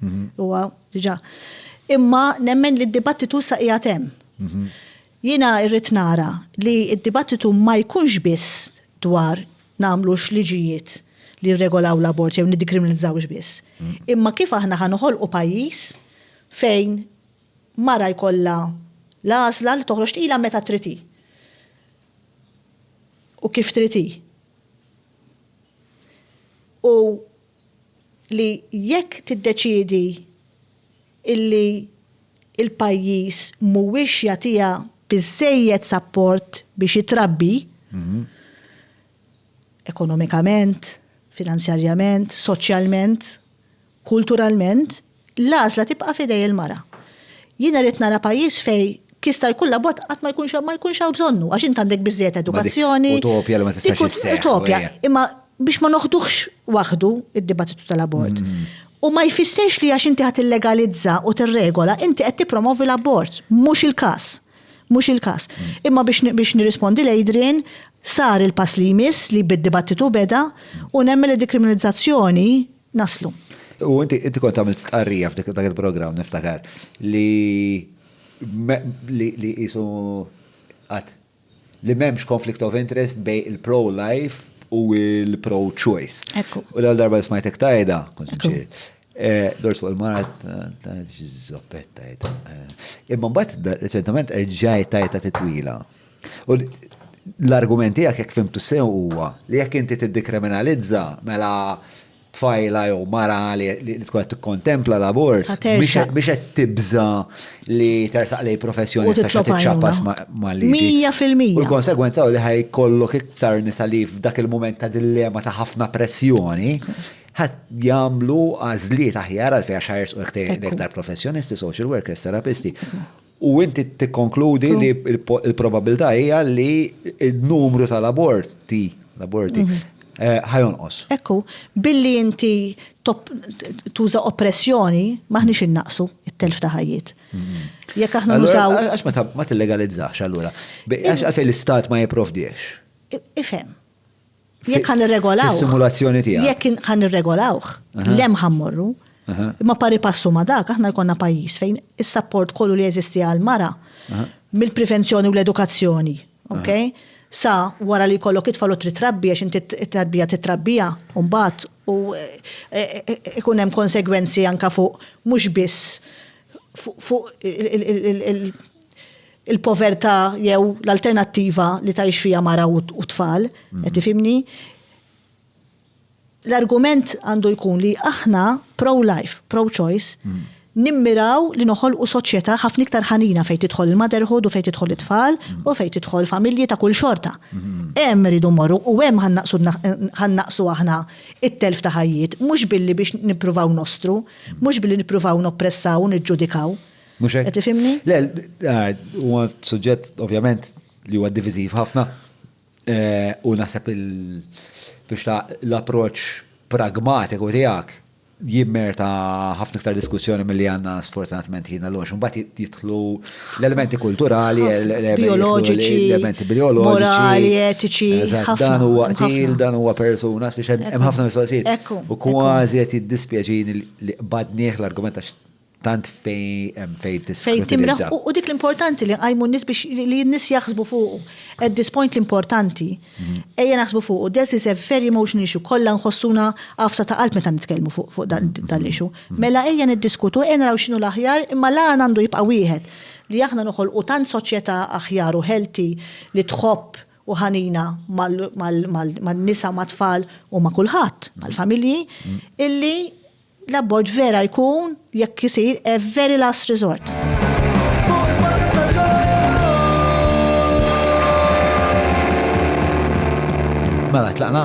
Mhm. Huwa diġà. Imma nemmen li d-dibattitu sa qiegħed hemm. Mhm. Jiena irrid nara li d-dibattitu ma jkunx biss dwar nagħmlux liġijiet li jirregolaw l-abort jew niddikriminalizzawx biss. Mhm. Imma kif aħna ħa noħolqu pajjiż fejn mara jkollha l-għażla li toħroġ tqila meta triti. U kif triti. U li jekk tiddeċiedi illi l-pajjiż mhuwiex jagħtiha biżżejjed sapport biex ittrabbi, ekonomikament, finanzjarjament, soċjalment, kulturalment, L-għażla tibqa' f'idej il-mara. Jien irrid nara pajjiż fejn jista' jkun l-abort qatt ma jkunx ma jkunx hawn bżonnu għax int għandek biżżejjed edukazzjoni. Dik utopja li ma tistax isseħħ. Dik utopja, imma biex ma noħduhx waħdu d-dibattitu tal-abort. U ma jfissirx li għax inti ħa tillegalizza u tirregola, inti qed tippromovi l-abort. Mhux il-każ. Mhux il-każ. Imma biex nirrispondi 'l Adrian, sar il-pass li jmiss li bid-dibattitu beda u nemmen li d-dekriminalizzazzjoni, naslu. U inti inti kont għamilt stqarrija f'dik dak il-programm niftakar li li qisu qatt li m'hemmx conflict of interest bej il-pro-life u il-pro-choice. U l-għal darba li smajtek tajda, kont nċir. Eh, dort fuq il-marat, ta' zoppet tajta. Eh, imma mbagħad reċentament ġaj tajta titwila. U l-argument tiegħek jekk fimtu sew huwa li jekk inti tiddikriminalizza mela tfajla jew mara li tkun qed tikkontempla l-abort biex qed tibża li tersaq lej professjoni sa xi tiċċapas mal-liġi. Mija fil-mija. U l-konsegwenza li ħaj kollok iktar nisa li f'dak il-mument ta' dillema ta' ħafna pressjoni ħat jagħmlu għażliet aħjar għal fejn għax ħajrsqu iktar professjonisti, social workers, terapisti. U inti tikkonkludi li l-probabbiltà hija li n-numru tal-aborti, l-aborti, eh, ħajonqos. Ekku, billi inti tuża oppressjoni, maħniex innaqsu it-telf ta' ħajjiet. Mm-hmm. Jekk aħna nużaw. Għax ma tillegalizzax allura. Għax għalfejn l-istat ma jipprovdiex. Ifhem. Jekk ħan irregolaw. Is-simulazzjoni tiegħek. Jekk ħan irregolawh, lem ħammorru. Imma pari passu ma dak, aħna jkollna pajjiż fejn is-sapport kollu li jeżisti għal mara mill-prevenzjoni u l-edukazzjoni, ok? Sa wara li jkollok itfal u trid trabbi għax inti t-tarbija titrabbija u mbagħad u ikun hemm konsegwenzi anka fuq mhux biss fuq il-povertà jew l-alternattiva li tgħix fiha mara u tfal, mm. qed tifhimni? L-argument għandu jkun li aħna pro-life, pro-choice, mm. nimmiraw li noħolqu soċjetà ħafna iktar ħanina fejn tidħol il-motherhood u fejn tidħol it-tfal mm. u fejn tidħol familji ta' kull xorta. Hemm rridu morru u hemm ħannaqsu aħna it-telf ta' ħajjiet, mhux billi biex nippruvaw nostru, mhux billi nippruvaw noppressaw u niġġudikaw. Mhux hekk? Qed tifhimni? Le, ah, huwa suġġett ovvjament li huwa diviżiv ħafna eh, u naħseb il biex ta' l-approċċ pragmatiku tiegħek jimmerta ħafna iktar diskussjoni mill-li għanna sfortunatament ħina l-għox. Mbagħad jitħlu l-elementi kulturali, bioloġiċi, l-elementi bioloġiċi, etiċi. Dan huwa qtil, dan huwa persuna, biex hemm ħafna mistoqsijiet. U kważi qed jiddispjaċini li qbadnieh l-argument għax tant fej fej Fej timraħ u dik l-importanti li għajmu n-nis biex li n-nis jaħsbu fuqu. At this point l-importanti, mhm. ejja naħsbu fuqu. This is a very emotional issue. Kolla nħossuna għafsa ta' qalb meta nitkellmu fuq fuq dan mhm. l-issue. Mhm. Mela ejja niddiskutu, ejja naraw xinu l-aħjar, imma la għandu jibqa' wieħed li aħna noħol u tant soċjetà aħjar u healthy li tħobb u ħanina mal-nisa, mat-tfal u ma' kulħadd, mal-familji, illi L-abort vera jkun, jekk isir, a very last resort. Mela, tlaqna?